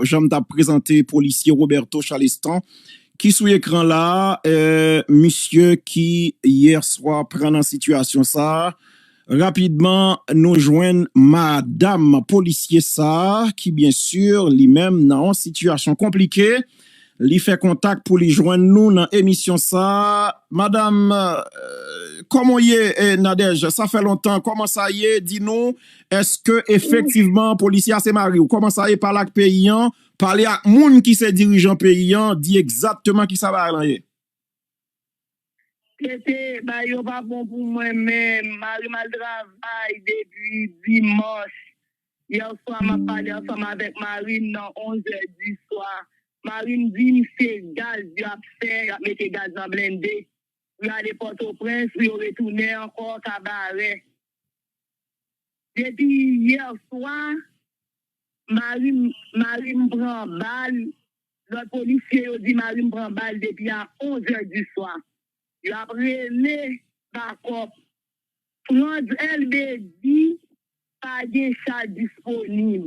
Jan m t ap prezante polisye Roberto Chalestin ki sou ekran la a, misye ki yè swa pran nan sitiyasyon sa a. Rapidman, nou jwenn madam polisye sa a ki byensi li menm nan yon sitiyasyon konplike. Li fè kontak pou li jwenn nou nan emisyon sa a. Madam, kòman w ye? Nadège, sa fè lontan, kòman sa ye? Di nou, èske efektivman polisye a se mari w? Kòman sa ye? Pale ak peyi an, pale ak moun ki se dirijan peyi an, di egzatteman ki sa bagay lan ye. Tete bay yo pa bon pou mwen menm marim al travay depi dimanch yèswa map pale ansanm avèk marim nan 11 zè diswa marim dim se gaz yap fè yap mete gaz nan blende pou yale pòtoprens pou yo retounen ankò kabarè. Depi yè swa mari m mari m pran bal lòt polisye yo di mari m pran bal depi a 11 è di swa yo ap rele bakòp Frantz Elbé di pa gen cha disponib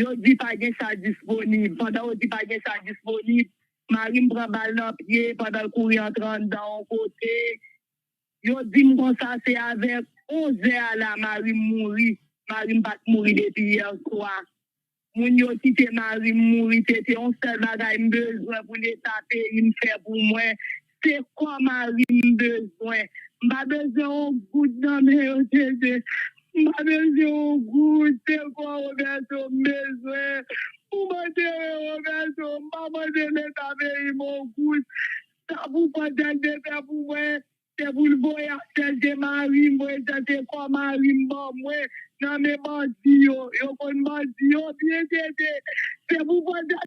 yo di pa gen cha disponib pandan yo di pa gen cha disponib mari m pran bal nan pye pandan l kouri antre anndan yon kote Yo di m konsa se avè 11 zè a la mari m mouri, mari m pa t mouri depi yè swa. Moun yo kite mari m mouri se te yon sèl bagay m bezwen pou leta peyi m fè pou mwen, se kò mari m m bezwen. M pa bezwen yon goud nan men yo Jeze, m pa bezwen yon goud, se kò Roberto m bezwen pou m antere Roberto, m pa mande leta peyi m yon goud. Sa pou pandanl te fè pou mwen se poul voye Axel te marim mwen sa se kò marim ban mwen nan men bandi yo yo konn bandi yo byen TT se pou pandan.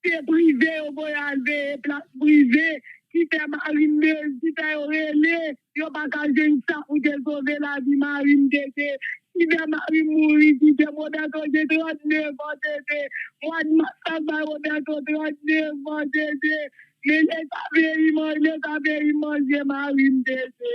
Se prive yo voye al veye plas prive ki fè marim mez ki fè yo rele yo paka jwenn sa pou te sove lavi marim tete ki fè marim mouri kitem Roberto gen 39 an tete mwad mas lap bay Roberto 39 an tete men leta veyim leta veyim manje marim tete.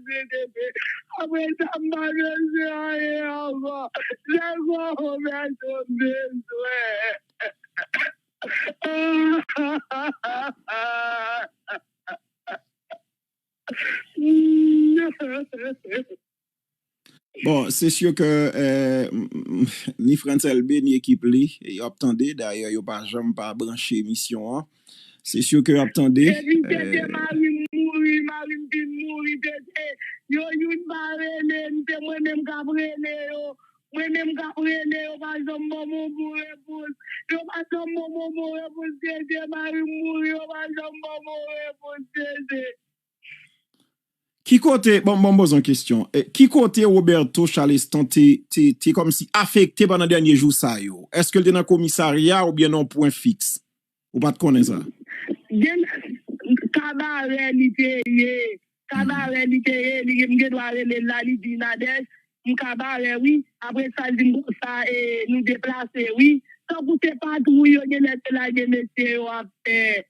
Manje tete apre sa m pa bezwen anyen ankò lè granmoun Bertho m bezwen. Bon se sur ke ni Frantz Elbe ni ekip li yo ap tande dayè yo pa janm pa branche emisyon an. Se syo ke yo ap tande. Depi tete mari m mouri, mari m fin mouri tete. Yo youn pa rele m, se mwen menm k ap rele yo. Mwen menm k ap rele yo pa janm ban m yon bon repons. Yo pa janm ban m yon bon repons tete, mari m mouri yo pa janm ban m yon repons tete. Ki kote, bon m poze yon kesyon, ki kote Roberto Chaleston te kòmsi afekte pandan dènye jou sa yo? Eske l te nan komisarya oubyen nan yon pwen fiks? Ou pa t konnen sa? Gen, kabarè li te ye, kabarè li te ye, li gen, m gen dwa rele l la, li di, Nadège, m kabarè wi, apre sa l di m bon sa e nou deplase wi. Tankou se patwouy yo gen lè te lage mesye yo ap fè.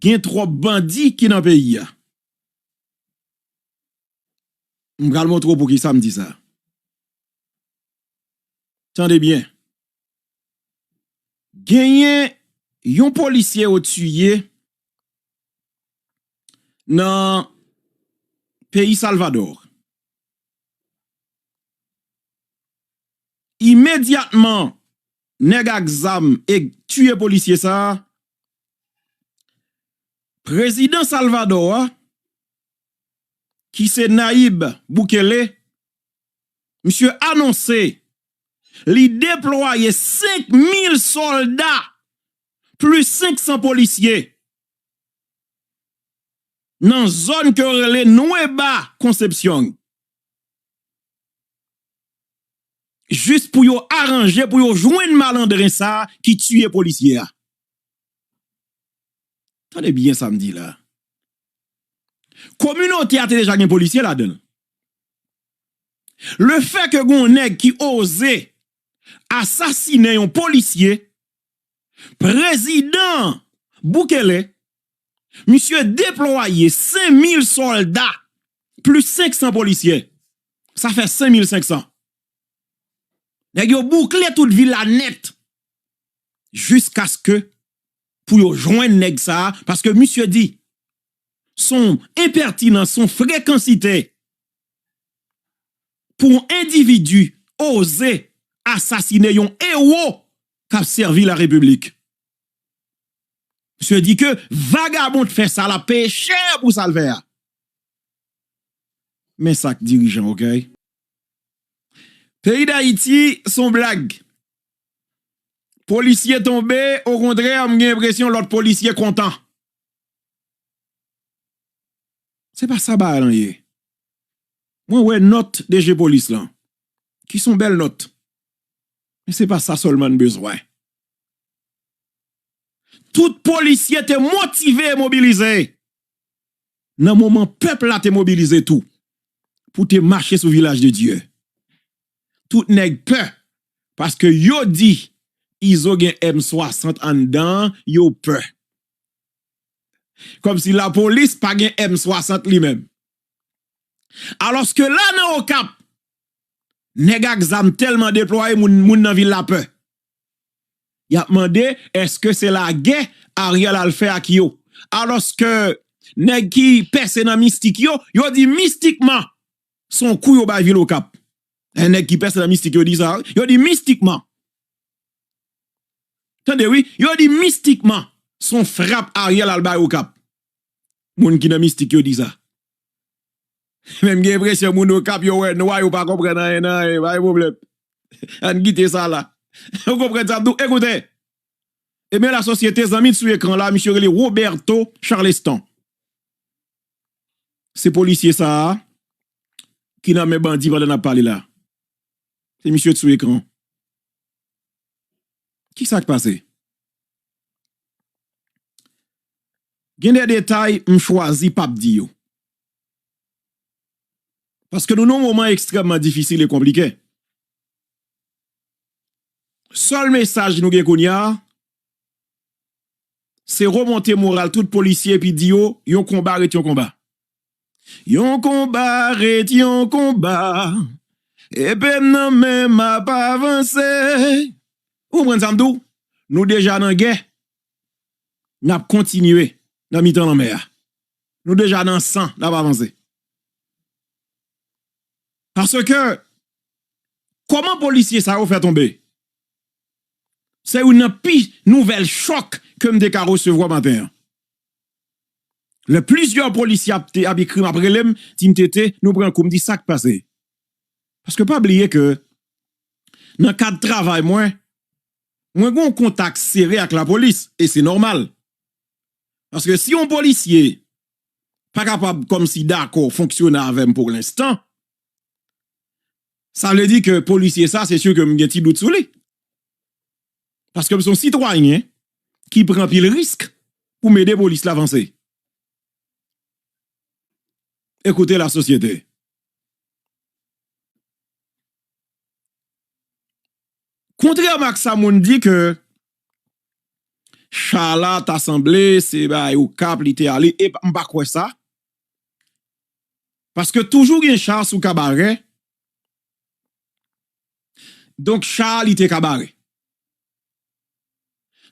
Gen trop bandi ki nan peyi a. M pral montre w poukisa m di sa. Tande byen. Genyen yon polisye yo tiye nan peyi Salvador. Imedyatman nèg ak zam eg tiye polisye sa a, prezidan Salvadò a ki se Nayib Bukele, misye anonse li deplwaye 5 mil sòlda plis 500 polisye nan zòn ke yo rele Nueba Concepcion. jis pou yo aranje pou yo jwenn malandren sa ki tiye polisye a. Tande byen sa m di la. Kominote a te deja gen polisye ladan l. Le fè ke gen yon nèg ki oze asasinen yon polisye, prezidan Bukele Misye deplwaye 5,000 sòlda plis 500 polisyè. Sa fè 5,500. Nèg yo boukle tout vil la nèt. Jiskaske pou yo jwenn nèg sa, paske misye di, son enpètinan, son frekansitè pou yon endividi oze asasine yon ewo k ap sèvi la repiblik. Misye di ke vagabon t fè sa lap peye chè pou sal fè a. Men sak dirijan okay. Peyi dayiti son blag. Polisye tonbe okontrè m gen enpresyon lot polisye kontan. Se pa sa bagay lan ye. Mwen wè not DG polis lan. Ki son bel not. Men se pa sa selman n bezwen. Tout polisye te motive e mobilize nan moman pèp la te mobilize tou pou te mache sou Vilaj de Dye. Tout nèg pè paske yo di Izo gen M 60 anndan an, yo pè. Kòmsi lapolis pa gen M 60 li menm. Alòske la nan Okap, nèg ak zam tèlman deplwaye moun nan vil la pè. Yap mande eske se lagè Ariel al fè ak yo. Aloske nèg ki pèse nan mistik yo, yo di mistikman se yon kou yo bay vil okap. Lè nèg ki pèse nan mistik yo di sa, yo di mistikman. Tande wi, yo di mistikman se yon frap Ariel al bay okap. Moun ki nan mistik yo di sa. Men m gen enpresyon moun Okap yo wè nwa yo pa konprann anyen nan anyen, pa gen pwoblèm. Ann kite sa la. Ou konprann sa m di w? Ekoute! Ebyen la sosyete, zanmi sou ekran la, misye rele Roberto Charleston. Se polisye sa a ki nan men bandi pandan n ap pale la. Se misye ki sou ekran. Ki sa k pase? Gen de detay m chwazi pa p di yo. Paske nou nan yon moman ekstrèmman difisil e konplike. Sèl mesaj nou gen kounye a, se remonte moral tout polisye epi di yo, yon konba ret yon konba. Yon konba ret yon konba, epe m nan men m ap avanse. Ou konprann sa m di w? Nou deja nan gè, n ap kontinye nan mitan lanmè a. Nou deja nan san nap avanse. Paske Koman polisye sa yo fè tonbe? Se youn nan pi nouvèl chòk ke m te ka resevwa maten an. Lè plizyè polisye ap te ap ekri m ap rele m di m TT nou pran kou m di sak pase? Paske pa bliye ke nan kad travay mwen, mwen gon kontak sere ak lapolis e se nòmal. Paske si yon polisye pa kapab kòmsi dakò fonksyone avè m pou lenstan, sa vle di ke polisye sa se si ke m gen ti dout sou li. Paske m se yon sitwayen ki pran anpil risk pou m ede polis la vanse. Ekoute la sosyete. Kontrèman ak sa moun di ke Shala ta sanble se bay Okap li te ale, epa m pa kwè sa. Paske toujou gen Sha sou kabarè. Donk Sha li te kabarè.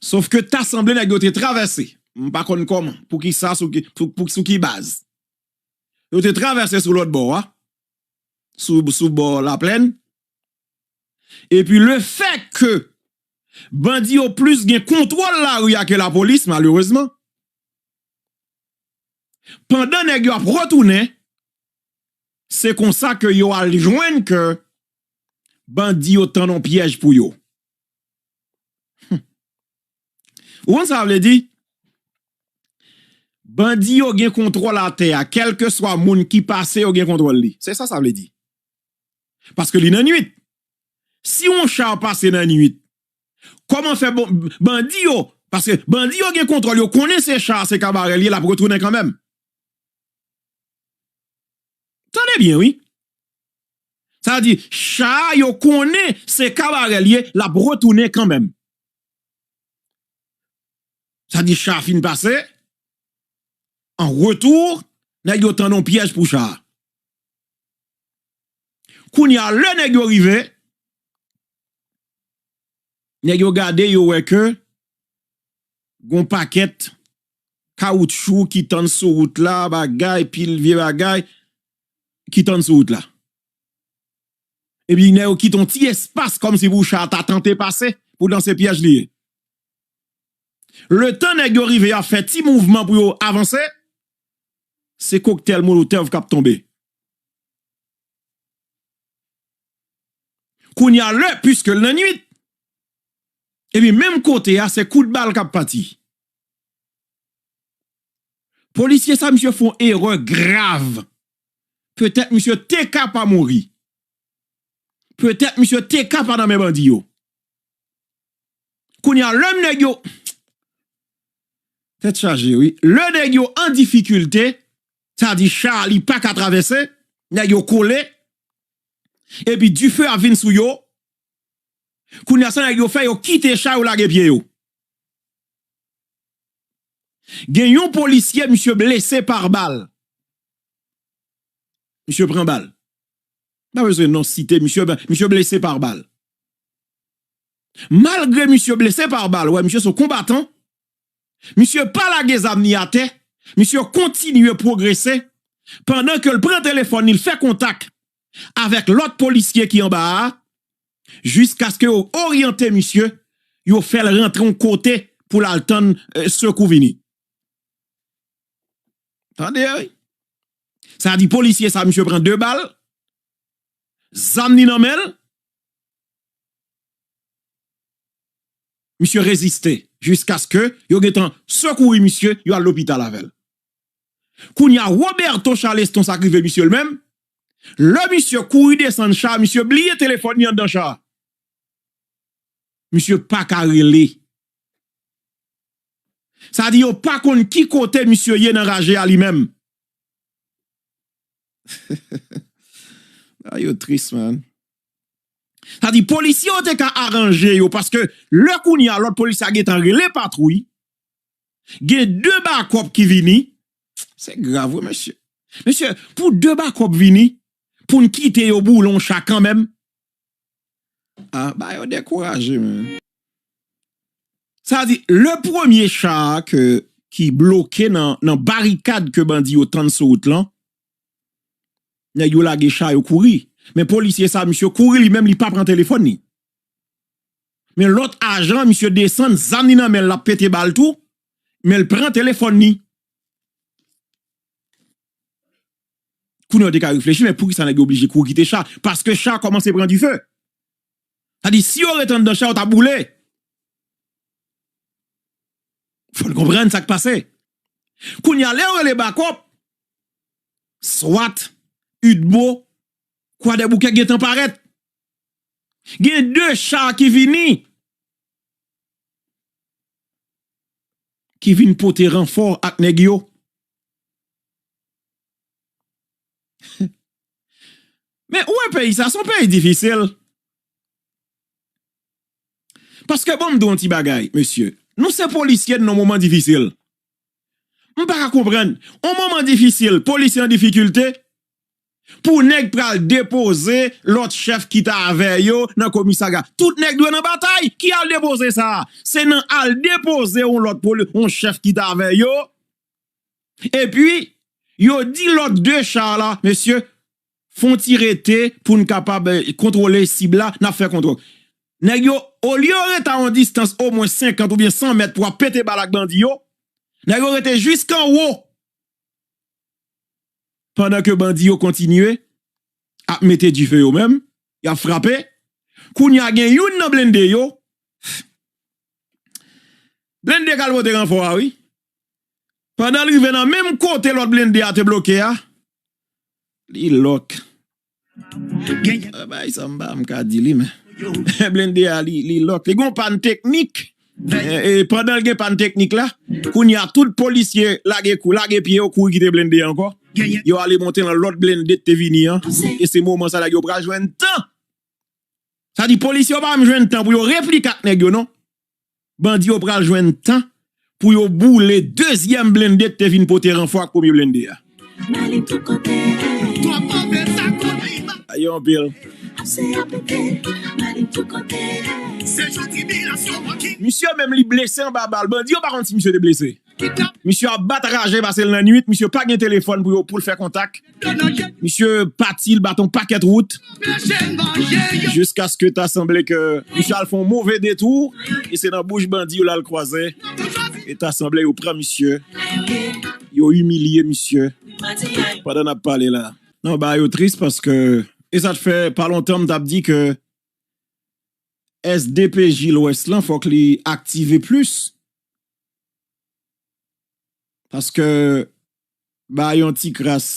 Sof ke ta sanble nèg yo te travèse, m pa konn kòman, pou ki sa, sou ki baz. Yo te travèse sou lòt bò a, sou bò Laplèn. Epi le fè ke bandi yo plis gen kontwòl lari a ke lapolis malerezman, pandan nèg yo ap retounen, se konsa ke yo al jwenn ke bandi yo tand yon pyèj pou yo. Hum! Ou konn sa vle di? Bandi yo gen kontwòl atè a, kèlkeswa moun ki pase yo gen kontwòl li. Se sa sa vle di. Paske li nan nwit. Si yon char pase nan nwit, koman fè bandi yo, paske bandi yo gen kontwòl, yo konnen se char se kabarè li ye, lap retounen kanmenm. Tande byen wi. Sa vle di, char yo konnen se kabarè li ye, lap retounen kanmenm. Sa vle di char fin pase, an retour, nèg yo tandon pyèj pou char. Kounye a lè nèg yo rive, nèg yo gade yo wè ke gon pakèt kawoutchou ki tann sou wout la, bagay, pil vye bagay ki tann sou wout la. Epi nèg yo kite yon ti espas kòm si pou cha a ta tante pase, poutan se pyèj li ye. Le tan nèg yo rive yo ap fè ti mouvman pou yo avanse, se koktèl molotov k ap tonbe. Kounye a lè piske l nan nwit epi menm kote a se kout bal kap pati. Polisye sa misye fon erè grav. Petèt misye teka pa mouri. Petèt misye teka pa nan men bandi yo. Kounye a lè nèg yo tèt chaje wi. Lè nèg yo an difikilte sa di cha a li paka travèse, nèg yo kole, epi dife ap vin sou yo, kounye a sa nèg yo fè yo kite cha yo lage pye yo. Gen yon polisye misye blese par bal, misye pran bal, m pa bezwen non site misye, misye blese par bal, malgre misye blese par bal, wè misye son konbatan, Misye pa lage zam ni atè, misye kontinye pwogrese pandan ke l pran telefòn li, l fè kontak avèk lòt polisye ki anba a, jiskaske yo oryante misye, yo fè l rantre yon kote pou l al tann sekou vini. Tande wi! Sa di polisye sa misye pran 2 bal, zam ni nan men l, misye reziste jiskaske yo gentan sekouri misye yo al lopital avèl. Kounya Roberto Charleston sak rive misye l menm, lè misye kouri desann cha misye bliye telefòn li anndan cha. Misye paka rele. Sa di yo pa konn ki kote misye ye nan raje a li menm. Bagay yo tris man. Sa di polisye yo te ka aranje yo paske lè kounye a lòt polisye a gen tan rele patwouy, gen 2 bakòp ki vini, se grav wi mesye. Mesye pou 2 bakòp vini pou n kite yo boule yon cha kanmenm, a ba yo dekouraje menm. Sa di lè premye cha a ki bloke nan barikad ke bandi yo tann sou wout lan, Nèg yo lage cha yo kouri. Men polisye sa misye kouri li menm li pa pran telefòn li. Men lòt ajan misye desann zam li nan menl lap pete bal tou menl pran telefòn li. Kounye a ou te ka reflechi men poukisa nèg yo oblije kouri kite cha? Paske cha kòmanse pran dife. Sa di si yo ret anndan cha yo ta boule. Fò n konprann sa k pase. Kounye a, lè yo rele bakòp, swat, udmo, kwadèboukè gen tan parèt. Gen de cha ki vini, ki vin pote ranfò ak nèg yo. Men, ou wè peyi sa, se yon peyi difisil. Paske bon m di w yon ti bagay, mesye, nou se polisye nan yon moman difisil. M pa ka konprann, yon moman difisil, polisye an difikilte, pou nèg pral depoze lòt chèf ki ta avè yo nan komisarya. Tout nèg dwe nan batay! Ki al depoze sa? Se nan al depoze yon lòt poli, yon chèf ki ta avè yo, epi yo di lòt 2 cha la, mesye, Fon ti rete poun kapab kontrole sib la nap fè kontrol nèg yo olye yo rete a yon distans omwen 50 oubyen 100 mèt pou ap pete bal ak bandi yo nèg yo rete jisk anwo pandan ke bandi yo kontinye ap mete dife yo menm yap frape kounya gen youn nan blende yo blende kal pote ranfò a wi. Pandan l rive nan menm kote lòt blende a te bloke a, li lòk. Bay sa m pa m ka di li men. Blende a li lòk. Li gen yon pàn teknik. E pandan l gen pàn teknik la, kounye a tout polisye lage kou, lage pye yo kouri kite blende a ankò. Yo ale monte nan lòt blende ki te vini an. E se moman sa nèg yo pral jwenn tan. Sa di polisye yo pa menm jwenn tan pou yo replike ak nèg yo non. bandi yo pral jwenn tan pou yo boule dezyèm blende ki te vin pote ranfò ak premye blende a. Misye menm li blese anba bal, bandi yo pa konn si misye te blese. Misye ap bat raje pase l nan nwit, misye pa gen telefòn pou yo pou l fè kontak. Misye pati l bat on pakèt wout jiskaske ta sanble ke misye al fè on move detou e se nan bouch bandi yo l al kwaze e ta sanble yo pran misye, yo imilye misye pandan n ap pale la. Non bagay yo tris paske e sa t fè pa lontan m t ap di ke sdpj lwès lan fòk li aktive plis Paske ba yon ti kras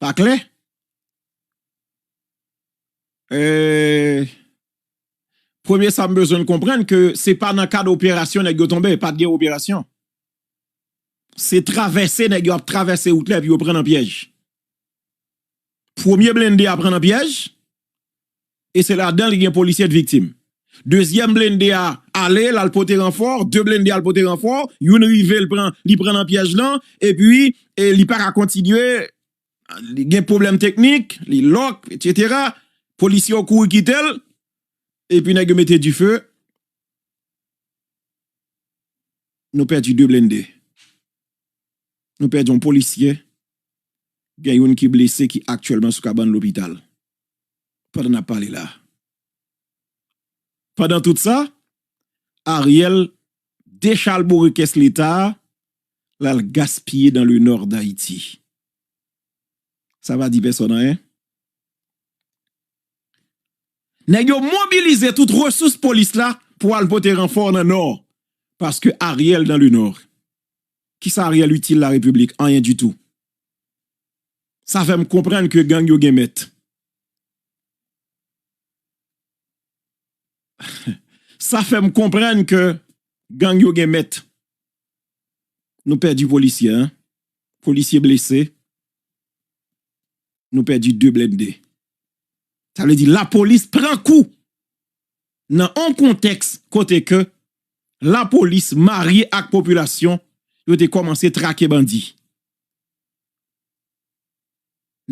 pa klè. Premye sa m bezwen n konprann ke se pa nan kad operasyon nèg yo tonbe, pat gen operasyon. Se travèse nèg yo ap travèse wout la epi yo pran nan pyèj. Premye blende a pran nan pyèj e se ladan li gen polisye 2 viktim. Dezyèm blende a ale l al pote ranfò, 2 blende al pote ranfò, youn rive l pran li pran nan pyèj lan epi li pa ka kontinye li gen pwoblèm teknik, li lòk etsetera, polisye yo kouri kite l epi nèg yo mete dife nou pèdi 2 blende. Nou pèdi yon polisyè, gen youn ki blese ki aktyèlman sou kabann lopital, pandan n ap pale la a. Pandan tout sa, Ariel dechalbore kès Leta a, l al gaspiye dan le Nord d'Haiti. Sa pa di pèsòn anyen. Nèg yo mobilize tout resous polis la pou al pote ranfò nan Nò, paske Ariel dan le Nord. Kisa Ariel util la République? Anyen dutou. Sa fèm konprann ke gang yo gen mèt. Sa fèm konprann ke gang yo gen mèt. Nou pèdi polisye 1, polisye blese, nou pèdi 2 blende. Sa vle di lapolis pran kou nan yon kontèks kote ke lapolis marye ak popilasyon yo te kòmanse trake bandi.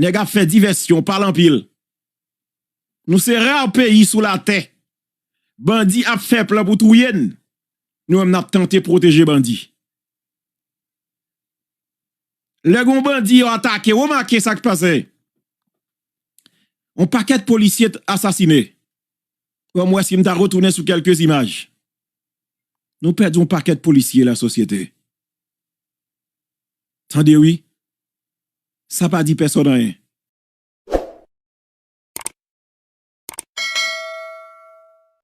Nèg ap fè divèsyon, pale anpil. Nou se ra peyi sou latè, bandi ap fè plan pou touye n, nou menm n ap tante pwoteje bandi. Lè gen yon bandi yo atake, remake sa k pase, yon pakèt polisye asasine. Fòm wè si m ta retounen sou kèlke imaj. Nou pèdi yon pakèt polisye la sosyete. Tande wi. Sa pa di pèsòn anyen.